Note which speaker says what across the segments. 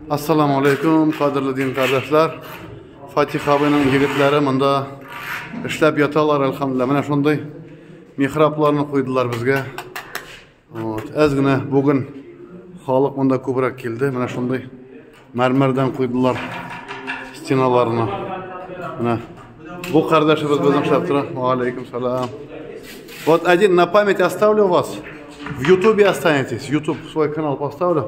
Speaker 1: Ассаламу алейкум, кадерле дин кардәшләр. Фатих абыйның егетләре монда эшләп яталар, әлхәмдүлилләһ. Менә шундый михрабларны куйдылар безгә. Вот, әз генә бүген халык монда күбрәк килде. Менә шундый мәрмәрдән куйдылар стеналарына. Менә бу кардәшебез безнең эшләп тора. Ва алейкум салам. Вот один на память оставлю вас. В Ютубе останетесь. Ютуб свой канал поставлю.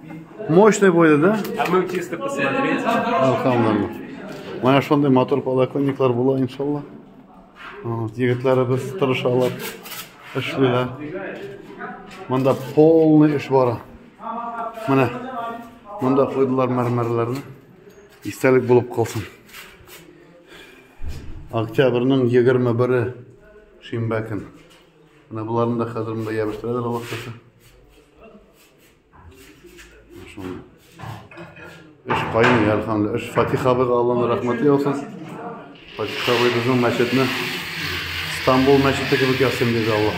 Speaker 1: Мощный будет, да? А мы чисто
Speaker 2: посмотреть. Алхамдулилла.
Speaker 1: Менә шундый мотор подоконниклар була, иншалла. Вот, егетләребез тырышалар, эшлиләр. Монда полный эш бара. Менә монда куйдылар мәрмәрләрне. Истәлек булып калсын. Октябрьнең 21-е шимбә көн. Менә буларны да хәзер монда ябыштыралар Аллаһ Эш кайный, әлхәмдүлилла. Эш Фатих абыйга Алланың рәхмәте яусын. Фатих абый безнең мәчетне Стамбул мәчете кебек ясыйм диде Аллаһ